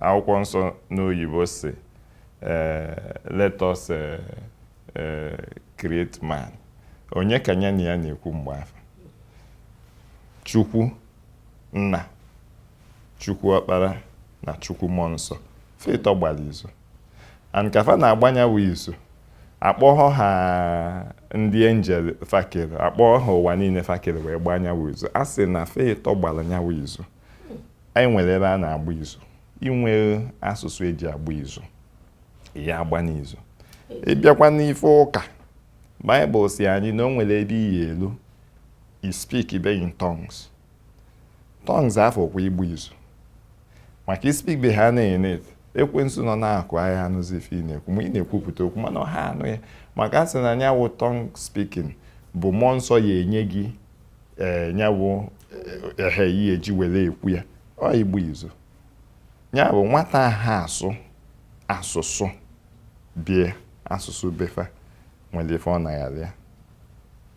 Akwụkwọ nsọ n'oyibo sị eh, let us eh, eh, create man. Onye ka ya na ya na-ekwu mgbe afụ? Chukwu nna, Chukwu ọkpara na Chukwu mmụọ nsọ. Fa ịtọ gbara izu. And ka fa na-agba nya wụ izu, akpọghọ ha ndị enjel fa kere, akpọghọ ha ụwa niile fa kere wee gbaa nya wụ izu. A sị na fa ịtọ gbara nya wụ izu. anyị nwere ebe a na-agba izu i nwee asụsụ eji agba izu ị ya agba n'izu ị bịakwa n'ife ụka baịbụl sị anyị na o nwere ebe ị ya-elu ị speakibe in tongues tongues afụ kwa ịgba izu maka ị speakibe ha na-ene ekwensu nọ n'akụkụ aya anụzi ife ị na-ekwu ma ị na-ekwupụta okwu mana ọha anụ ya maka a sị na nya wụ tongue speaking bụ mmụọ nsọ ya enye gị ee eh, nyawụ ehe eh, ihe eji were ekwu ya ọ ịgba izu nya bụ nwata aha asụ asụsụ be ya asụsụ be fa nwere ife ọ na-agharị ya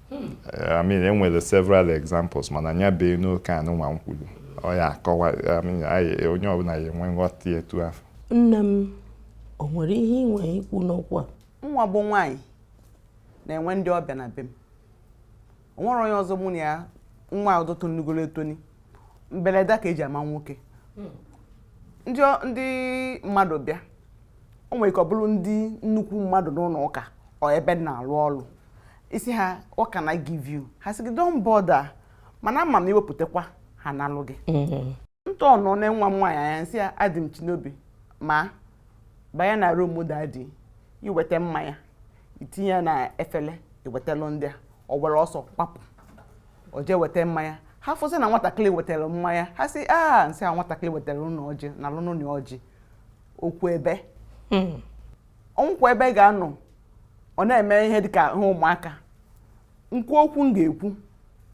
hmm. eh, I mean enwere several examples mana nya bee na nke anụnwa m kwuru ọ ya akọwa onye ọbụla ya enwe nghọta etu afụ nne m o nwere ihe ị nwere ikwu n'okwu a nwa bụ nwaanyị na-enwe ndị ọbịa na be m o nwere onye ọzọ mụ na ya nwa ọzọ tonigoro etoni mberede ka eji ama nwoke hmm. ndị mmadụ bịa o nwere ike ọ bụrụ ndị nnukwu mmadụ n'ụlọ ụka or ebe m na-arụ ọrụ ị sị ha what can I give you ha sị gị don't bother mana ama m i wepụtakwa ha analụ gị hmm. m tọnọọ nee nwa m nwaanyị anya m sị ya Adimchinobi ma banye na room daddy i weta mmanya i tinye ya na efele i wetalụ ndị a ọ were ọsọ gbapụ o jee weta mmanya ha fụsị na nwatakịrị wetara mmanya ha sị a m sị a nwatakịrị wetara unu ọjị nalụnụ nya ọjị okwu ebie Hmm. o nwekwa ebe ị ga-anọ ọ na-eme ihe dị ka ihe ụmụaka m kwuo okwu m ga-ekwu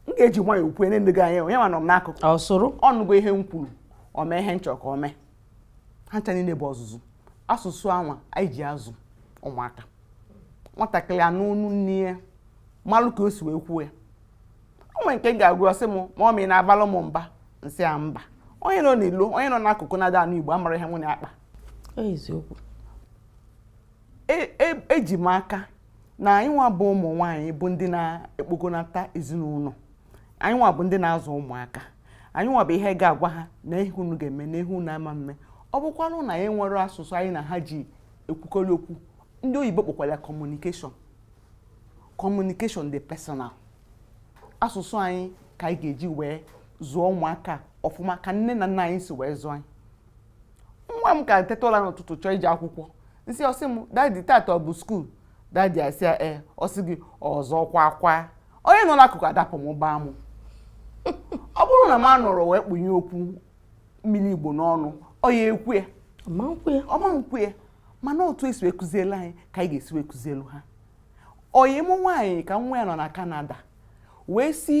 m ga-eji nwayọ okwu ene ndị gị anya onye ma nọ m n'akụkụ ọ nụgo ihe m kwuru o mee ihe m chọrọ ka o mee ha ncha niile bụ ọzụzụ asụsụ anwa anyị ji azụ ụmụaka nwatakịrị anụ onu nne ya malụ ka o si wee kwuo ya o nwere nke m ga-agwa ọ sị m mummy ị na-abalụ m mba m sị ya mba onye nọ n'ilo onye nọ n'akụkụ na-ada anụ igbo amarọ ihe unu na-akpa eziokwu eji m aka na anyị nwa bụ ụmụ nwaanyị bụ ndị na-ekpogonata ezinụlọ anyị nwa bụ ndị na-azụ ụmụaka anyị nwa bụ ihe ga-agwa ha na ihe unu ga-eme na ihe unu ama eme ọ bụkwanụ na anyị nwere asụsụ anyị na ha ji ekwukọrị okwu ndị oyibo kpọkwara ya communication communication dị personal asụsụ anyị ka anyị ga-eji wee zụọ ụmụaka ọfụma ka nne na nna anyị si wee zụọ anyị nwa m ka teta ụra n'ụtụtụ chọọ ije akwụkwọ nsị ọ sị m daddy taata ọ bụ skuul daddy a sị ya ee ọ sị gị ọzọ kwa kwa onye nọ n'akụkụ adapụ mụba amụ ọ bụrụ na m anọrọ wee kpunye okwu mmiri igbo n'ọnụ ọ ya-ekwu ya ọ ma ekwu ya mana otu e si wee kụzielu anyị ka anyị ga-esi wee kụzielu ha ọyị mụ nwaanyị ka nwa ya nọ na Canada wee si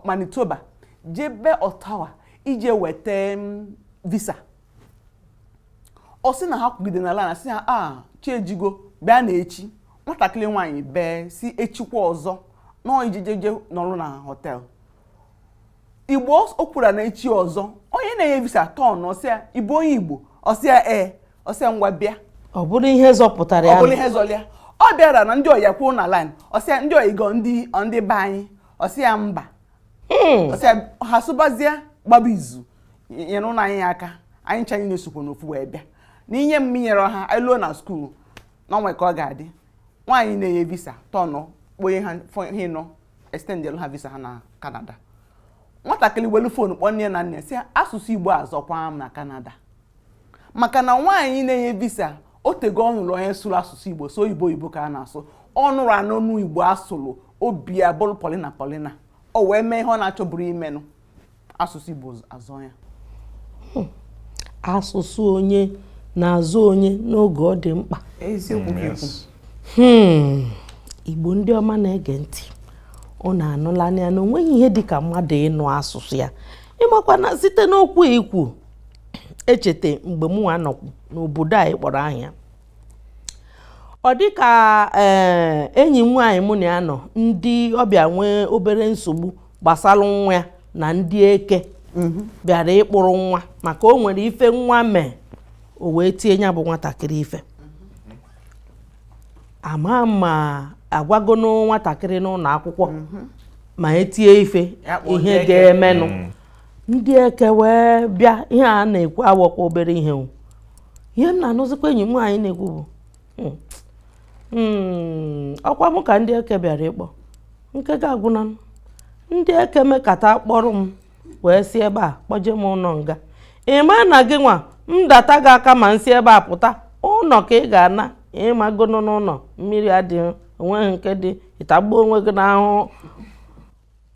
Manitoba jebe Ottawa ije weta visa ọ sị na ha kwụgide na line a sị ha chi ejigo bịa na echi nwatakịrị nwaanyị bee sị echikwa ọzọ nọọ ijejeje nọrụ na hotel igbo o kwuru na echi ọzọ onye na-enye visa tọnụ sị ya ị bụ onye igbo ọ sị ya ee ọ sị ya ngwa bịa ọ bụrụ ihe zọpụtara ya ọ bụrụ ihe zọlụ ya ọ bịara na ndị ọyị ya kwụ na line ọ sị ya ndị ọyị gị ọ ndị be anyị ọ sị ya mba Hmm. ọ sị ya ha asụbazie gbaba izu nyerenụ anyị aka anyị ncha anyị na-esokwa n'ofu wee bịa na i nye m i nyerọ ha anyị luo na skuul na o nwe ka ọ ga-adị nwaanyị na-enye visa tọnụ kponye ha fọ- ha ịnọ extendelu ha visa ha na Canada nwatakịrị welu phone kpọọ nna na nne sị ya asụsụ Igbo azọkwa m na Canada maka na nwaanyị na-enye visa o tego ọ nụrụ onye sụrụ asụsụ igbo so oyibo oyibo ka a na-asụ ọ nụrụ anụ nụ igbo a sụrụ obi ya bụrụ polina polina o wee mee ihe ọ na-achọburọ ime nụ asụsụ igbo azọ ya hmm. asụsụ onye na-azọ onye n'oge ọ dị mkpa hmm. igbo ndị ọma na-ege ntị unu anụlanụ ya na o nweghị ihe dị ka mmadụ ịnụ asụsụ ya ị makwa na site n'okwu ikwu echeta mgbe mụwa nọkwu n'obodo anyị kpọrọ aha ya ọ dị ka eh, enyi m nwaanyị mụ na ya nọ ndị ọbịa nwee obere nsogbu gbasara nwa ya na ndị eke mhm. bịara ịkpụrụ nwa maka o nwere ife nwa mee o wee tie ya bụ nwatakịrị ife ama ma agwago nwatakịrị n'ụlọ akwụkwọ mhm. ma e tie ife ihe ga-emenụ mm. ndị eke wee bịa ihe a na-ekwu awụkwa obere ihe ihe m na-anụzikwa enyi m nwaanyị na-ekwu bụ hmm, hmm, ọkwa m ka ndị eke bịara ịkpọ nke m ga-agwa gị na ndị eke mekata kpọrọ m wee si ebe a kpọje m ụlọ nga ị ma na gịnwa m data gị aka ma m si ebe a pụta ụlọ ka ị ga-ana ị magonụ n'ụlọ mmiri adịghị onweghị nke dị ị tagbuo onwe gị n'ahụhụ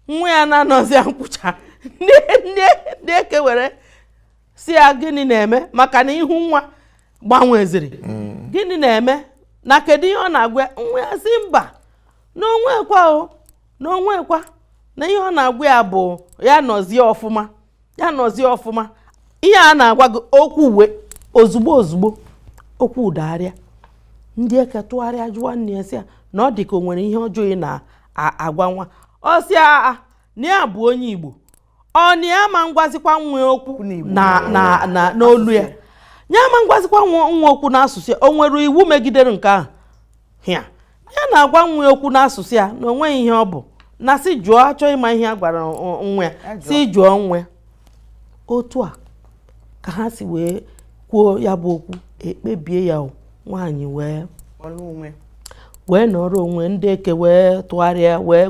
nwa ya na-anọzi ya nkwụcha ndị eke were sị ya gịnị na-eme maka na ihu nwa gbanweziri mm. gịnị na-eme na kedu ihe ọ na-agwa nwa ya sị mba na o nwekwa o na o nwekwa na ihe ọ na-agwa ya bụ ya nọzie ọfụma ya nọzie ọfụma ihe a na-agwa gị o kwuwe ozugbo ozugbo okwu adagharịa ndị eke tụgharịa jụwa nne ya sị ya na ọ dị ka o nwere ihe ọjọọ ị na-agwa nwa ọ sị ya na ya bụ onye Igbo ọ na ya ma ngwazikwa nwa okwu n'olu ya ya ma ngwazikwa nwa okwu n'asụsụ ya o nwere iwu megidere nke ahụ ya na-agwa nwa ya okwu n'asụsụ ya na onweghị ihe ọ bụ na sị jụọ a chọọ ịma ihe a gwara nwa ya sị jụọ nwa ya otu a ka ha si wee kwuo ya bụ okwu e kpebie ya nwaanyị wee nọrọ onwe ndị eke wee tụgharịa wee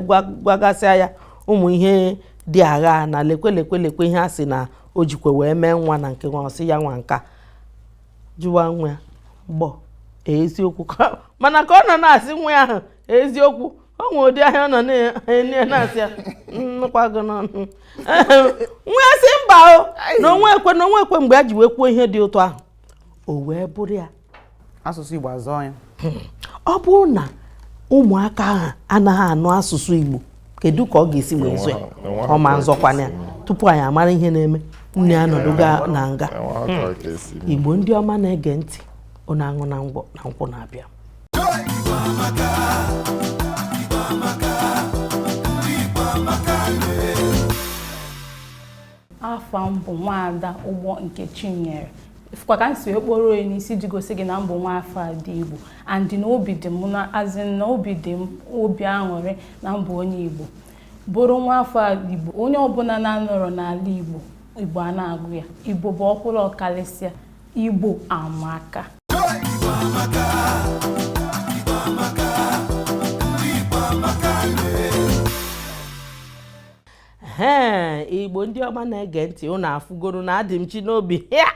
gwagasịa ya ụmụ ihe ndị ahụ na lekwe lekwe lekwe ihe a sị na o jikwe wee mee nwa na nke nwa ọ sị ya nwa nka jụwa nwa ya gbọ eziokwu mana ka ọ nọ na-asị nwa ya ahụ eziokwu o nwere ụdị anya ọ nọ na-ene ya na-asị ya m nụkwa gị n'ọnụ nwa ya sị mba o na o nwekwa na o nwekwa mgbe a ji wee kwuo ihe dị otu ahụ o wee bụrụ ya asụsụ Igbo azọọ ya ọ bụrụ na ụmụaka ahụ anaghị anụ asụsụ Igbo kedu ka ọ ga-esi wee zọọ ya ọ ma nzọkwanụ ya tupu anyị amara ihe na-eme nne ya anọdụgo na nga hmm. Igbo ndị ọma na-ege ntị ụnụ aṅụna ngwọ na nkwụ na-abịa afa m bụ nwaada ụgbọ nkechinyere ịfụkwa ka m si okporo onye n'isi ji gosi gị na m bụ nwa afọ a dị igbo and na obi dị m na asị na obi dị m obi aṅụrị na m bụ onye igbo bụrụ nwa afọ igbo onye ọbụla na-anọrọ n'ala igbo igbo a na-agụ ya igbo bụ ọkwụrụ ọkarịsịa igbo amaka ee igbo ndị ọma na-ege ntị ụnụ afụgoro na adịmchinobi ya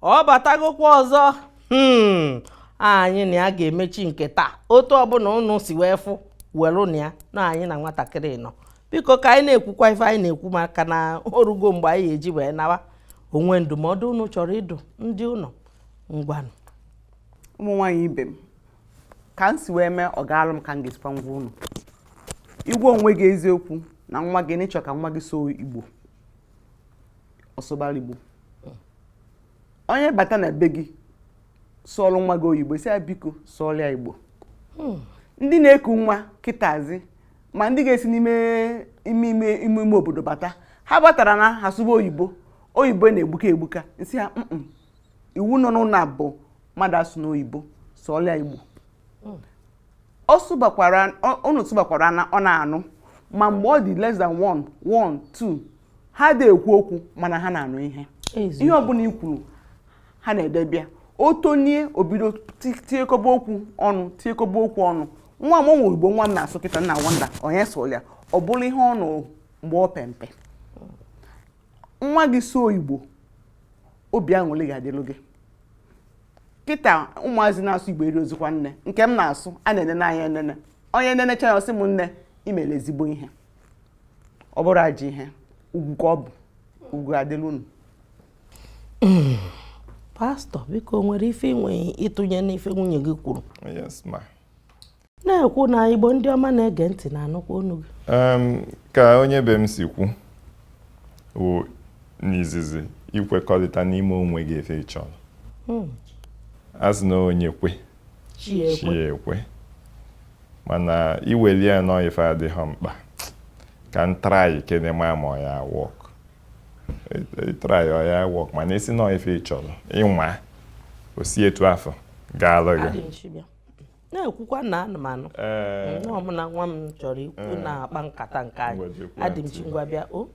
ọ batagokwa ọzọ hmm. anyị na ya ga-emechi nke taa otu ọbụla ụnụ si wee fụ werenụ ya na anyị na nwatakịrị nọ biko ka anyị na-ekwukwa ife anyị na-ekwu maka na orugo mgbe anyị eji wee nawa o nwe ndụmọdụ ụnụ chọrọ ịdụ ndị ụnụ ngwanụ ụmụ nwaanyị ibe m ka m si wee mee ọ gaalụ m ka m ga-esi wee gwa unu ị gwa onwe gị eziokwu na nwa gị na ị chọ ka nwa gị sụọ igbo sụbara ya igbo onye bata na be gị sụọlụ nwa gị oyibo sị ya biko sụọlụ ya igbo hmm. ndị na-eku nwa kịtazi ma ndị ga-esi n'ime ime ime ime obodo bata ha batara na ha sụba oyibo oyibo na-egbuka egbuka m sị ha iwu nọ n'ụlọ a bụ mmadụ asụna oyibo sụọlụ ya igbo hmm. ọ sụbakwara unu sụbakwara na ọ na-anụ ma mgbe ọ dị less than one one two ha adị ekwu okwu mana ha na-anụ ihe ihe ọbụla i kwuru ha na-edebe ya o tonie o bido tiekọba okwu ọnụ tiekọba okwu ọnụ nwa m o nwe igbo nwa m na-asụ kịta m na wonder onye sụụrụ ya ọ bụrụ ihe ọ nụrụ mgbe ọ pe mpe nwa gị sụọ igbo obi aṅụrị ga-adịlụ gị kịta ụmụazị na-asụ igbo erirozikwa nne nke m na-asụ a na-ene n'anya enene onye nenecha ya ọ sị m nne i mere ezigbo ihe ọ bụrọ ajọ ihe ugwu ka ọ bụ ugwu ga-adịlụ unu pastor biko o nwere ife i nwe ịtụnye n'ife nwunye gị kwuru yes ma na-ekwu na igbo ndị ọma na-ege ntị na-anụkwa onu gị ka onye be m si kwuo n'izizi ikwekọrịta n'ime onwe gị ife ịchọrọ hmm. asị na onye kwe chi ya ekwe mana i weli ya na ọ ife adịghị mkpa ka m try kene ma ọ ya work ị try ya ọ ya work mana ị sị na ọ ife ịchọrọ ị nwaa o si etu afụ gaalụ gị na-ekwukwa na ana m anụ ee nwa m na nwa m chọrọ ikwu na-akpa nkata nke anyị Ngwa jekwa adị m ntị. chi ngwa bịa o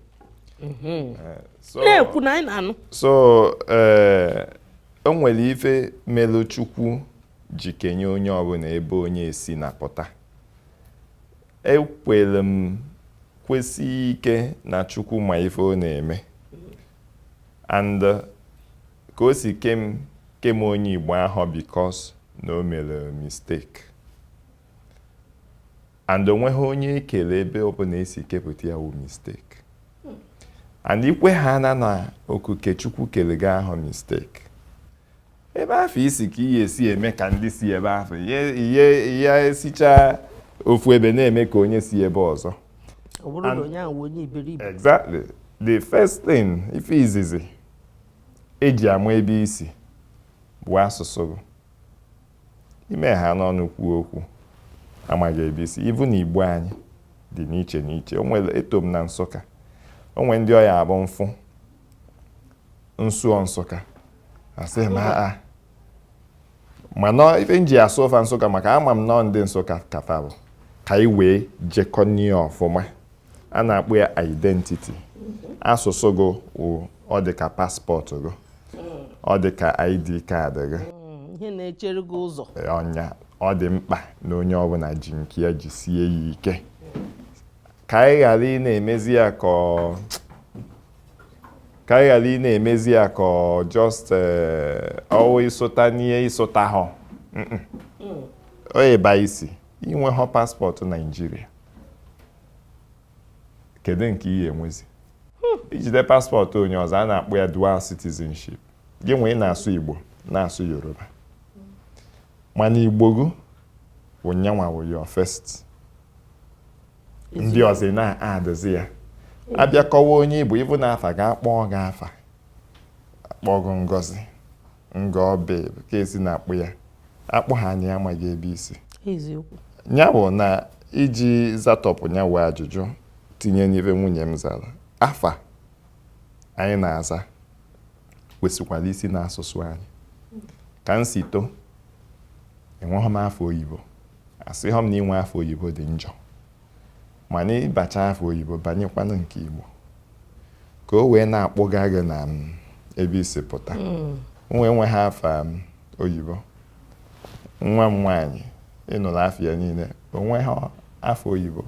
Mhm. ee. So- na-ekwu na anyị na-anụ so ee o nwere ife melu chukwu ji kenye onye ọbụla ebe onye si na pụta ekwere m kwesie ike na chukwu ma ife ọ na-eme and uh, Ka o si kee m kee m onye Igbo ahọ because na o mere mistake. And o nweghị onye e kele ebe ọbụla e si kepụta ya wụ mistake. And i kwehana na okuke Chukwu kere gị ahọ mistake. Ebe afụ i si ka i ye-esi eme ka ndị si ebe afụ ị ya-esicha ofu ebe na-eme ka onye si ebe ọzọ. Ọ bụrụ na onye ahụ onye iberibe. Exactly. The first thing ife izizi e ji ama ebe i si bụ asụsụ gị i mehana ọnụ kwuo okwu a ma gị ebe i si ị fụ na Igbo anyị dị n'iche n'iche o nwere eto m na Nsụka o nwere ndị ọ ya-abụ m fụ m sụọ Nsụka a sị m aa mana ife m ji asụ fa Nsụka maka ama m na ọ ndị Nsụka ka fa bụ ka anyị wee jekọnịa ọfụma a na-akpọ ya identity asụsụ gị wụ ọ dị ka passport gị ọ dị ka ID card gị ihe na-echere gị ụzọ ọ nya ọ dị mkpa na onye ọbụla ji nke ya jisie ya ike ka anyị ghara ịna-emezi ya ka ọ ka anyị ghara ịna-emezi ya ka ọ just eh, ọ wụ ịsụta n'ihe ịsụta ha Mm-mm. ọ ebe i si i nwehọ passport Nigeria kedu nke i ye-enwezi i jide passport onye ọzọ a na-akpọ ya dual citizenship gị nwee na-asụ Igbo na-asụ Yoruba mana Igbo gị bụ nya nwa wụ your first ndị ọzọ na-adịzi ya a bịa kọwa onye ị bụ ọbụna afa a ga-akpọ gị afa a kpọ gị Ngozi Ngọbị ka e si na-akpọ ya a kpọhana ya a ma gị ebe i si eziokwu ya bụ na iji zatọpụ nya wụ ajụjụ tinye n'ife nwunye m zara afa anyị na-aza kwesịkwara isi n'asụsụ anyị ka m si too enweghị m afa oyibo asịhọ m na inwe afa oyibo dị njọ mana ị bacha afa oyibo banyekwanụ nke Igbo ka o wee na-akpụga gị n'ebe i si pụta hmm. nwa enweghị afa oyibo nwa m nwaanyị ị nụrụ afa ya niile o nweghị afa oyibo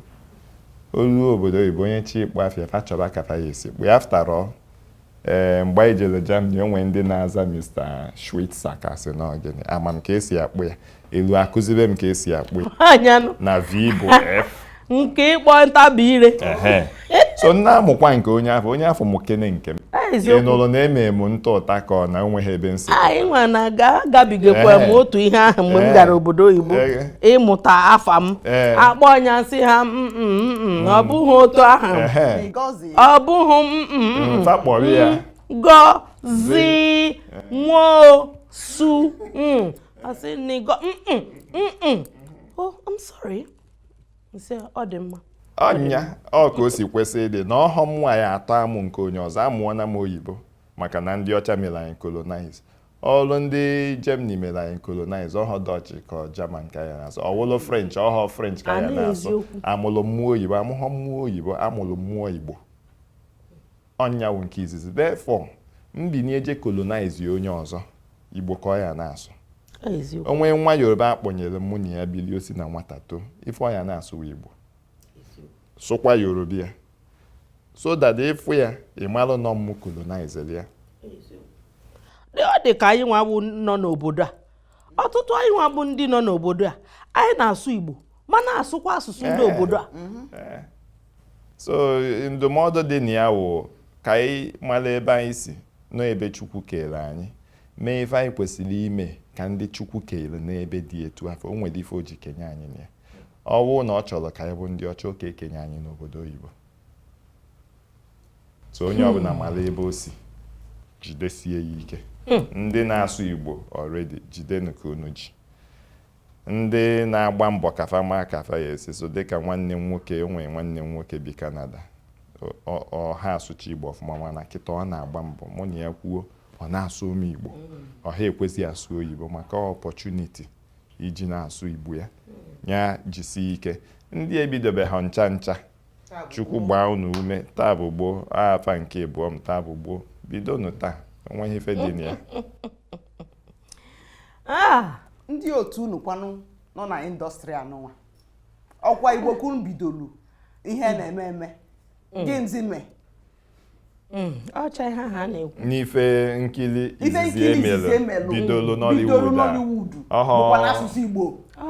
o lu obodo oyibo onye chọ ịkpọ afa ya fa chọba ka fa ya-esi kpọ ya after all Ee, mgbe anyị jere Germany, o nwere ndị na-aza Mr. Schweitzer ka sị na gịnị ama m ka esi akpọ ya elu akụzibe m ka esi akpọ ya ọnyanụ na V bụ F nke ịkpọ ntabi ire ehe so m na-amụkwa nke onye afụ onye afụ mụkene nke m Ah, ị eziokwu nụrụ na eme m ntụ ụta ka ọ na onweghị ebe nsị anyị nwa na ga gabigakwa m Ee. otu ihe ahụ mgbe m Ee. gara obodo oyibo Ee. ịmụta afa m Ee. akpọ ọnya m sị ha "Mm, mm, mm, mm, ọ bụghị otu ahụ ehe Ngozi ọ bụghị m mm, mm, mm. Nta kpọrọ ya. Ngozi Nwosu mm. I say nigo mm, mm, mm, mm. oh I'm sorry m sị ọ dị mma ọnya wụ ka o si kwesị ịdị na ọhọ mụ nwa ya-atọ amụ nke onye ọzọ amụọna m oyibo maka na ndị ọcha mere anyị colonize ọwụlụ ndị Germany mere anyị colonize ọhọ Dutch ka German ka ya na-asụ ọwụlụ French ọhọ French ka ya na-asụ amụrụ mụ oyibo amụghọ mụ oyibo amụrụ mụ Igbo ọnya wụ nke izizi therefore m binie je colonize onye ọzọ Igbo ka ọ ya na-asụ o nwee nwa Yoruba akpọnyere mụ na ya bili o si na nwata too ife ọ ya na-asụ wụ Igbo sụkwa Yoruba ya so that ị fụ ya ị malụ na ọ m colonizere ya ọ dị ka anyị nwa bụ nọ n'obodo a ọtụtụ anyị nwa bụ ndị nọ n'obodo a anyị na-asụ Igbo ma na-asụkwa asụsụ ndị eh, obodo a mm-hmm. eh. so ndụmọdụ dị na ya wụ ka anyị mara ebe anyị si na ebe Chukwu kere anyị mee ife anyị kwesịrị ime ka ndị Chukwu kere n'ebe dị etu afụ o nwere ife o ji kenye anyị na ya ọ bụrụ na ọ chọrọ ka anyị bụ ndị ọcha ọ ka ekenye anyị n'obodo oyibo so onye hmm. ọbụla mara ebe o si jidesie ya ike hmm. ndị na-asụ igbo already jidenu ka unu ji ndị na-agba mbọ ka fa ma ka fa ya esi so dịka nwanne m nwoke o nwe nwanne m nwoke bi Canada ọ ha asụcha igbo ọfụma mana kịta ọ na-agba mbọ mụ na ya kwuo ọ na-asụrụ m igbo hmm. ọ ha ekwezi asụ oyibo maka opportunity iji na-asụ igbo ya ya jisie ike ndị ebidobeha ncha ncha chukwu gbaa unu ume taa bụ gboo afa nke ịbụọ m taa bụ gboo bidonụ taa onweghị ife dị na ya ah! ndị otu unu kwanụ nọ na industry anụnwa ọ kwa igbo ka unu bidolu ihe na-eme eme mm. gịnịzi mee Hmm, ọcha ihe ha na-ekwu n'ife nkiri izizi emelu bidolu Nollywood a bụkwa n'asụsụ Igbo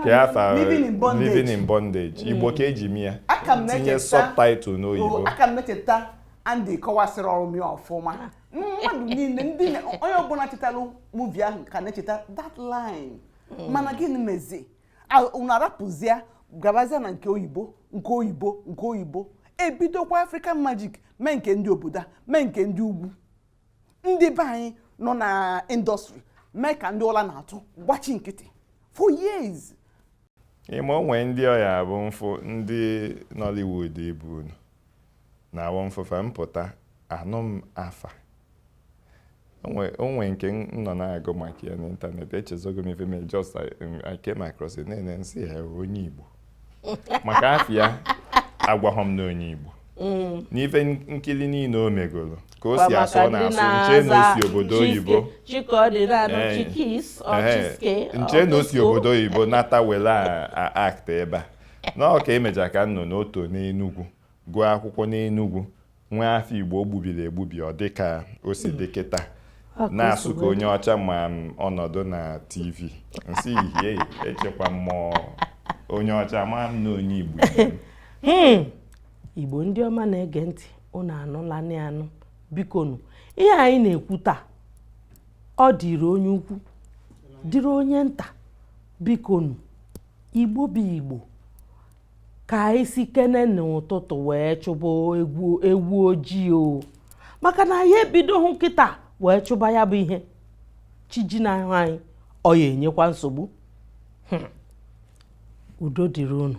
ka ya fa Living in Bondage Igbo hmm. ka eji mee tinye subtitle n'oyibo oh, a ka m na-echeta Andy kọwasịrị ọrụ m ya ọfụma mmadụ niile ndị onye ọbụla chetalụ movie ahụ ka na-echeta that line hmm. mana gịnị mezi unu arapụzie gabazie na nke oyibo nke oyibo nke oyibo ebidokwa african magic mee nke ndị obodo a mee nke ndị ugwu ndị be anyị nọ na industry mee ka ndị ụla na-atụ gbachi nkịtị for years ị ma o nwee ndị ọ ya-abụ m fụ ndị nollywood ibe unu Na-awụ m fụ fa m pụta, anụ m afa. O nwee nke m nọ na-agụ maka ya n'ịntanetị, echezọgo m ife m just I came across it nene nsị onye Igbo. Maka afa ya agwaghọ m na onye Igbo. Mm. n'ife nkiri niile o megoro ka o si asụ ọ na-asụ nche na o si obodo oyibo nche na o si obodo oyibo nata were act ebe a na ọ ka emecha ka m nụ na o to n'Enugwu gụọ akwụkwọ n'Enugwu nwee afa Igbo o gbubiri egbubi ọ dị ka o si dị kịta na-asụ ka onye ọcha ma ọ nọdụ na TV nsị ihie echekwa m ma onye ọcha ma m na onye Igbo ibe m. Hmm. igbo ndị ọma na-ege ntị unu anụlanị anụ bikonu ihe anyị na-ekwu taa ọ dịrị onye ukwu dịrị onye nta bikonu igbo bụ igbo ka anyị sikene n'ụtụtụ wee chụba ewu ojii o maka na anyị ebidohụ kịta wee chụba ya bụ ihe chi jinahụ anyị ọ ya-enyekwa nsogbu hmm. udo dịrị unu